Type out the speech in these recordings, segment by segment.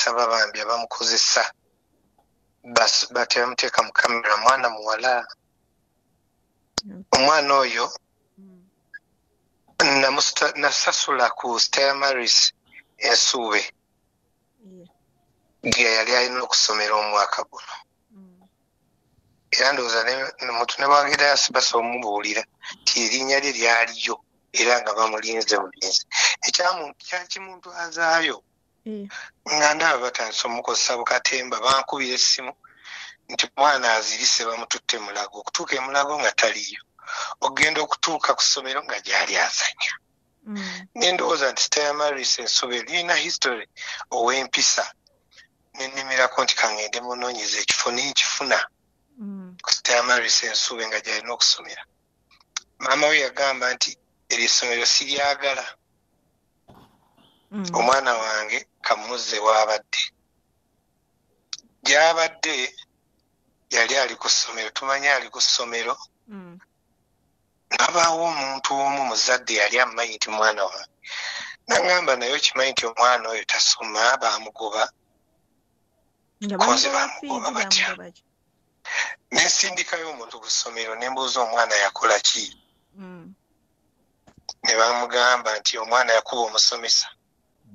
nsaba bambi abamukozesa batebamuteeka mu kamera mwana muwala omwana oyo mm. nasasula ku stella maris ensuube gye yali alina okusomera omwaka guno mm. era ndowooza muntu ne bwagenda yasibasa omubuulira nti erinnya lye lyaliyo era nga bamulinze bulinzi ekyakimuntu azaayo eh. nga ndaba batandise omukozesa bukatemba bankubira essimu nti mwana azirise bamututte mulago okutuuka emulago nga taliyo okugenda okutuuka ku ssomero nga gyali azanya mm. nendowooza nti stayamaris ensobe lirina history ow'empisa nenimirako nti kangende munoonyeza ekifo nenkifuna mm. ku stayamaris ensobe nga gyalina okusomera maama we yagamba nti eryo essomero siryagala mm. omwana wange kamuzze waabadde gyabadde yali ali ku ssomero tumanye ali ku ssomero mm. nabaawo omuntu omu muzadde yali amumanyi nti mwana wange nagamba naye okimanyi nti omwana oyo tasoma bamugoba kozi bamugoba batya nensindikayo omuntu ku ssomero nembuuza omwana yakola ki mm. ne bamugamba nti omwana yakuba omusomesa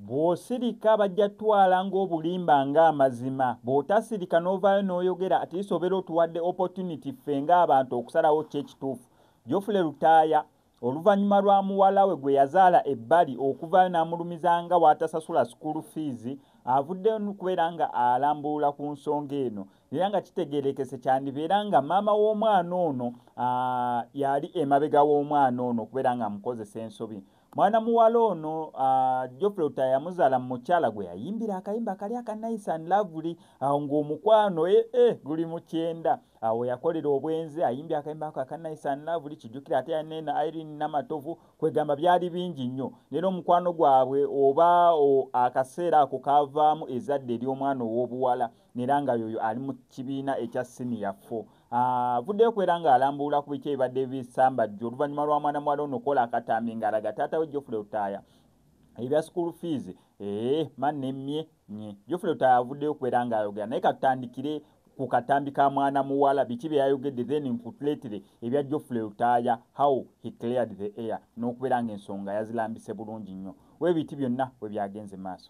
bw'osirika bajja twala ng'obulimba ng'amazima bw'otasirika n'ovaayo n'oyogera atiisa obeera otuwadde opportunity ffe ng'abantu okusalawo ki ekituufu jofule lutaaya oluvannyuma lwa muwala we gwe yazaala ebbali okuvaayo n'amulumiza nga waatasasula sukuulu fiizi avuddeyo kubeera nga alambulula ku nsonga eno era nga kitegerekese kyandibeera nga maama w'omwana ono yali emabega w'omwana ono okubeera nga amukozesa ensobi mwana muwala ono jofre uta yamuzaala mu mukyala gwe yayimbira akayimba kali aka nice and lovely awo ng'omukwano ee eh, eh, guli mu kyenda awo yakolera obwenzi ayimbye akayimba ako aka nice and lovely kijjukira ate yaneena irene namatovu kwegamba byali bingi nnyo nera omukwano gwabwe oba akaseera ako kavaamu ezadde ery'omwana ow'obuwala nera nga yoyo ali mu kibiina ekya siniya fo avuddeyo kwera nga alambuula ku biki ebibadde bisambajja oluvannyuma lwa mwana muwala ono kola akatambi nga alaga taata we jofule lutaaya ebya school fees ee eh, ma nemmye nye jofule lutaaya avuddeyo kwera nga ayogera naye katutandikire ku katambi ka mwana muwala biki bye yayogedde then nkutuleetere ebya jofule lutaaya how he cleared the air n'okubeera nga ensonga yazilambise bulungi nnyo webiti byonna we byagenze maaso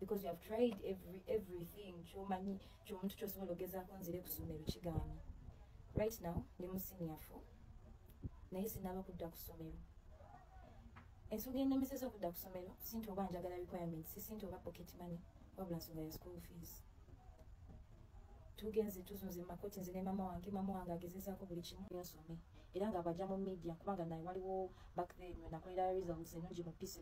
because you have tried every everything kyomanyi kyomuntu kyosobola ogezaako nzire ku ssomero kigaana right now ndi mu senior four naye sinaba kudda ku ssomero ensonga enemeseza okudda ku ssomero sinti oba njagala requirements sisinti oba pocket money wabula nsonga ya school fees tugenze tuzunze makoti nze ne mama wange mama wange agezezaako buli kimu yasome era nga abaja mu media kubanga naye waliwo back then nakolera results enungi mu p7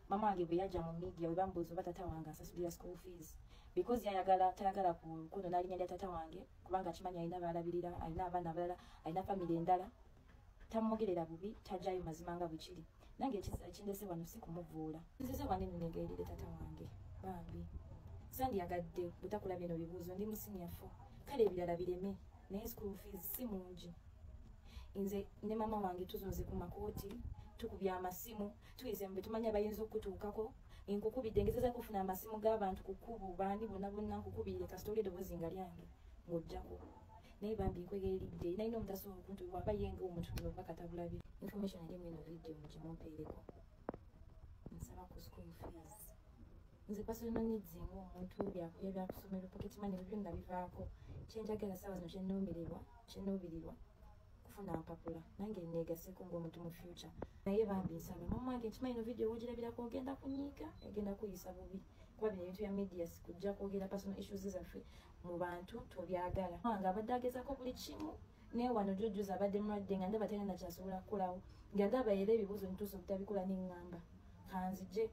mama wange bwe yajja mu media bwe bamubuuza oba tata wange asasulira school fees because yayagala tayagala kuno nalinya lya tata wange kubanga akimanyi alina baalabirira alina abaana abalala alina famiry endala tamwogerera bubi tajayo mazima nga bwekiri nange ekindese wano si kumuvuula nzize wano enunegerire tata wange bambi sandiyagadde butakula bino bibuuzo ndi musinyafu kale ebirala bireme naye school fees si mungi nze ne mama wange tuzunze ku makooti tukubya amasimu tuyise mu betumanya bayinza okutuukako nkukubidde ngezeza kufuna amasimu g'abantu ku kkubo baani bonna bonna nkukubirire kasita oli eddoboozi nga lyange ng'ojjako naye bambi nkwegeeridde nalina omutasa okuntu waba yenga omuntu bino oba katabulabi information ali mweno video mukimumpeereko nsaba ku school fees nze personal needs ng'omuntu byakusomero pocket money byonna bivaako kyenjagala saawa zino kyenoomererwa kyenoobirirwa kufuna mpapula nange negaseko ngaomuntu mu future naye bambi nsaba mama wange nkimanyi no video wogirabirako ogenda kunyiiga egenda kuyisa bubi kuba bino ebintu bya media sikujja kwogera personal issues zaffe mu bantu tobyagala wange abadde agezako buli kimu naye wano jojuza abadde mulwadde nga ndaba tena nakyasobola kukolawo nga ndaba era ebibuuzo nituusa obutabikola nengamba kanzije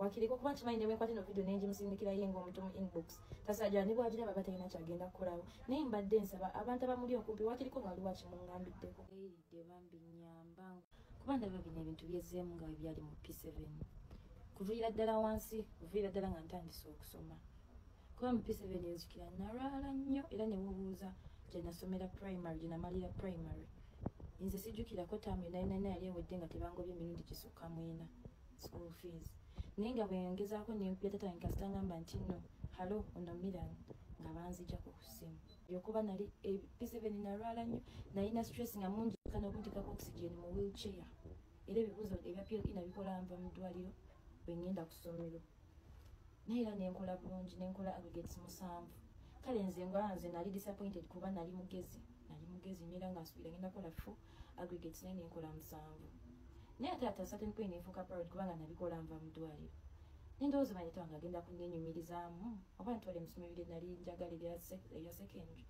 wakiri kukuba nkimanyi newenkwata eno vidiyo nenjimusindikira ye ngaomuntu mu inbox tasajaa ne bwagira baba talina kyagenda kukolawo naye mbadde nsaba abantu abamuli okumpi wakiriko waliwo akimungambiddeko eyiridde bambi nyamba kuba ndaba bino ebintu byezeemu nga webyali mu p7 kuviira ddala wansi kuviira ddala nga ntandise okusoma kuba mu p7 enzikira nalwala nnyo era newobuuza gyenasomera primary gyenamalira primary nze sijjukirako taamu enaenana yali ewedde nga tebangobye emirundi gisukka mwena school fees naye nga bweyangezaako nempuleta tange kasita ngamba nti no halo ono miran nga banzijako ku ssimu yokuba nali episeveni eh, nalwala nnyo nalina stress nga mungi kana okuntekako oxygen mu wheelchair era ebibuuzo ebya pl ina bikola nva mu ddwaliro bwe ngenda ku ssomero naye era nenkola bulungi nenkola aggregates musanvu kale nze ngwala nze nali disappointed kuba nali mugezi nali mugezi nyo era nga nsuubira ngenda kola fo aggregates naye nenkola musanvu naye ate ata certain point nenfuuka proud kubanga nabikola nva mu ddwaliro nendowooza manyi twange agenda kunenyumirizaamu oba ntwala emisomo ebiri nali njagala ebya secondary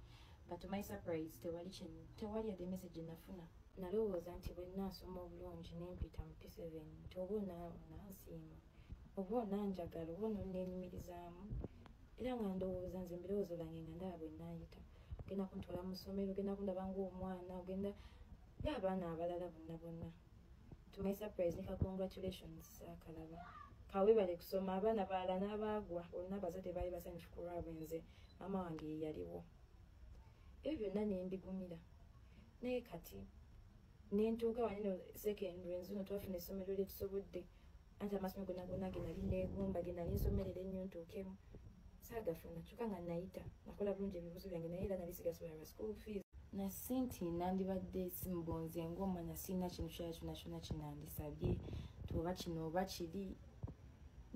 but my surprise tewali kino tewali yadde message enafuna nalowooza nti bwe nnaasoma obulungi nempita mu p7 nti oba onaansiima oba onanjagala oba ononenyumirizaamu era nga ndowooza nze mbirowoozo byange nga ndaba bwe nayita ogenda kuntwala mu ssomero ogenda kundaba ngaomwana ogenda ngaabaana abalala bonna bonna to my surprise nika congratulations akalaba kawebale kusoma abaana balala n'abaagwa olina abazadde baali basanyufu ku lwabwe nze maama wange yeyaliwo ebyo byonna nembigumira naye kati nentuuka wanino secondary nzuno twafuna essomero lyetusobodde anti amasomo gona gona genali negumba genali nsomerera ennyo ntuukemu saagafuna kyokka nga nayita nakola bulungi ebibuzo byange naye era nali sigasobola lwa school fees nasi nti nandibadde simbonze ngaomwana sirina kintu kyala kyona kyona kinandisabye tuoba kino oba kiri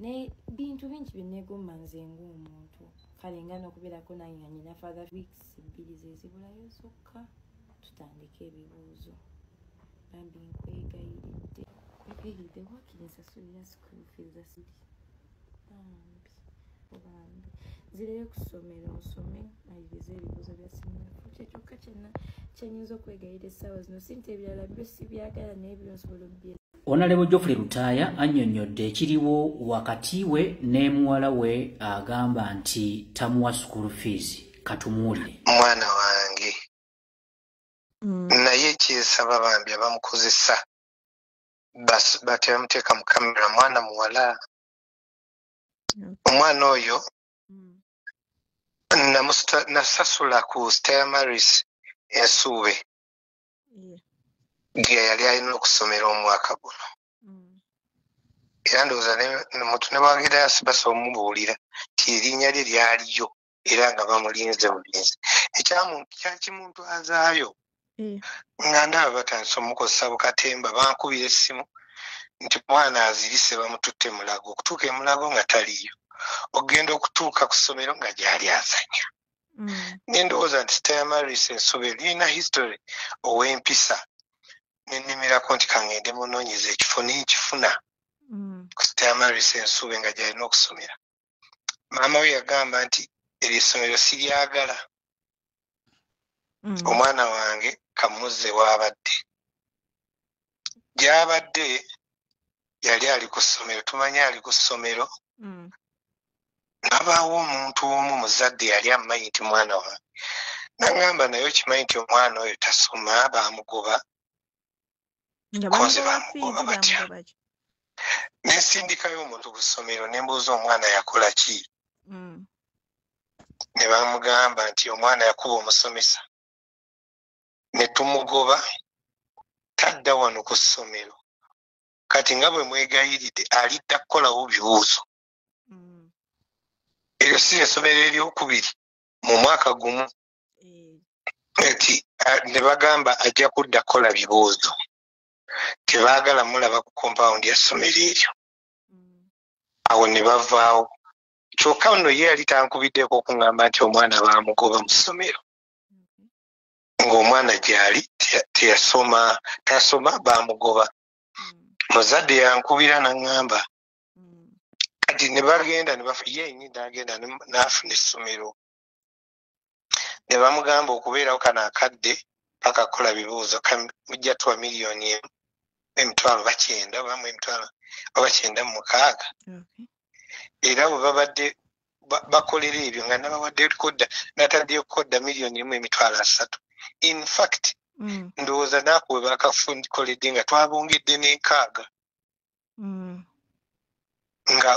ne bintu bingi byenegomba nze ngaomuntu kale nga nokubeerako nange nga nyina father weeks bbiri zezibulayo zokka tutandika ebibuuzo bambi nkwegayiridde kwegayiridde wakiri nsasulira school fees asidi bambi bambi nzireyo ku ssomero nsome maliriza ebibuuzo bya sinafu kyekyokka kyena kyenyinza okwegayira essaawa zino sinti ebirala byo sibyagala naye byonsobola obbye Onalebo Geoffrey Lutaaya annyonnyodde ekiriwo wakati we ne muwala we agamba nti tamuwa school fees katumuwulire mwana wange mm. naye kyesaba bambi abamukozesa batebamuteeka mu kamera mwana muwala mm. omwana oyo mm. nasasula ku stamaris ensuube giya yali alina okusomera omwaka guno mm. era ndowooza muntu ne bwagenda yasibasa omubuulira ti erinnya lye lyaliyo era nga bamulinze bulinzi ekyakimuntu azaayo mm. nga ndaba batandise omukozesa bukatemba bankubira essimu nti mwana azirise bamututte mulago okutuuka emulago nga taliyo okugenda okutuuka ku ssomero nga gyali azanya mm. mm. nendowooza nti sitayamaris ensobe lirina history owempisa nenimirako nti kangende munonyeza ekifo nenkifuna mm. sitayamaris ensobe nga gyalina okusomera maama we yagamba nti eryo essomero siryagala mm. omwana wange kamuze waabadde gyabadde yali ali ku ssomero tumanyi ali ku ssomero mm. nabaawo omuntu omu muzadde yali amumanyi nti mwana wange nagamba naye okimanyi nti omwana oyo tasoma bamugoba kozi bamugoba batya nensindikayo omuntu ku ssomero nembuuza omwana yakola ki mm. ne bamugamba nti omwana yakuba omusomesa ne tumugoba tadda wano ku ssomero kati nga bwe mwegayiridde alidda kukolawo bibuuzo mm. eryo si esomero eryokubiri mu mwaka gumu mm. nti ne bagamba ajja kudda kukola bibuuzo tebaagala mulaba ku kompawundi ya ssomero eryo mm. awo ne bavaawo kyokka nno ye yali tankubiddeko okuŋŋamba nti omwana baamugoba mu ssomero ng'omwana gyali teyasoma tasoma bamugoba muzadde yankubira naŋŋamba kati ne bagenda yenyi nagenda nafuna essomero ne bamugamba okubeerawo kano akadde bakakola bibuuzo mujja tuwa miliyoni emu emitwalo bakyenda bamu emitwalo oba kyenda mumukaaga era bwe babadde bakolera ebyo nga nabawadde kodda nataddeyo kodda miliyoni emu emitwalo asatu in fact mm. ndowooza naaku we bakakoledde nga twabongedde n'enkaaga mm. nga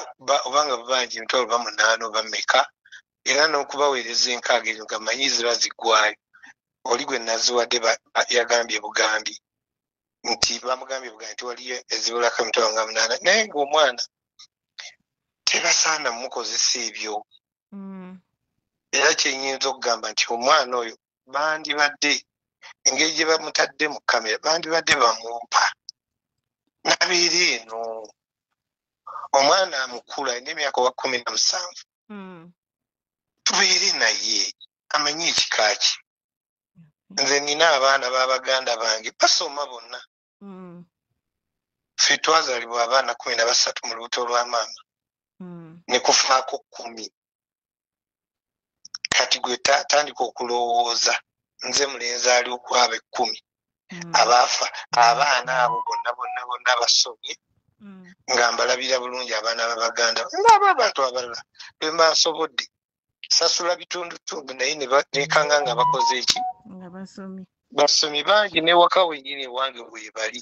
obanga babanja emitwalo bamunaana oba meka era n'okubaweereza enkaaga ezo nga manyi ziba ziggwayo oli gwe naziwadde yagambye bugambi nti bamugambye buga nti waliyo ezibulako emitwalo nga munaana naye ngaomwana tebasaana mukozesa ebyo mm. era kyenyinza okugamba nti omwana oyo bandibadde engeri gye bamutadde mu kamera bandibadde bamumpa nabeera eno omwana amukulu alina emyaka wa kumi na musanvu hmm. tubeere naye amanye ekika kye nze nina abaana babaganda bange basoma bonna mm. fe twazalibwa abaana kumi na basatu mu lubuto lwa maama mm. nekufaako kumi kati gwe tandika okulowooza nze mulenzi ali okwaba ekkumi mm. abaafa abaana abo bonna bonna bonna basomye nga mbalabira bulungi abaana babaganda ngaabo abantu abalala bembasobodde sasula bitundutundu naye nekanga nga bakoze eki basomi bangi newaka wenyini ewange webali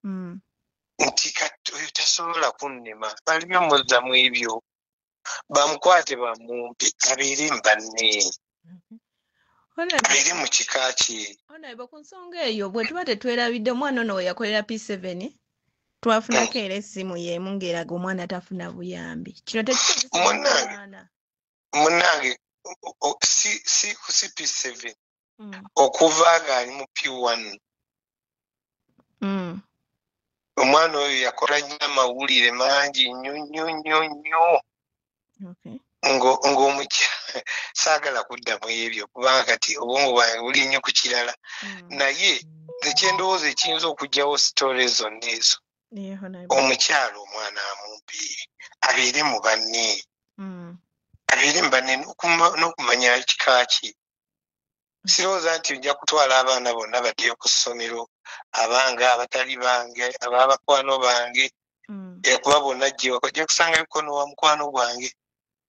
hmm. nti kati oyo tasobola kunnema balimi omuzzamu ebyo bamukwate bamumpe abeere mubanne mhm. abeere mu kika kye onaeba ku nsonga eyo bwe tuba tetwerabidde omwana ono weyakolera p7 twafunako era essimu yeemu ng'eraga omwana tafuna buyambi kino tekimunange munange si ku cp seven mm. okuva ng'ali mu p one mm. omwana oyo yakola nnyo amawulire mangi nnyo nnyo nnyo nnyo ng'omukya saagala kudda mu ebyo kubanga kati obwongo bwange buli nnyo ku kirala hmm. naye ekyendowooza ekiyinza okugyawo sitore zonna ezo omukyalo omwana amumpi abeere mu banne hmm. abeere mu banne n'okumanya kika ki sirowooza nti ojja kutwala abaana bonna baddeyo ku ssomero abange abatali bange ababakwano bange mm. ekuba eh, bonna jewaka ojja kusanga bikono wa mukwano gwange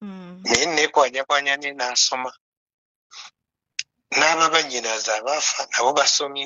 mm. naye nekwanyakwanya ne naasoma n'ababanyinaza abaafa nabo basomye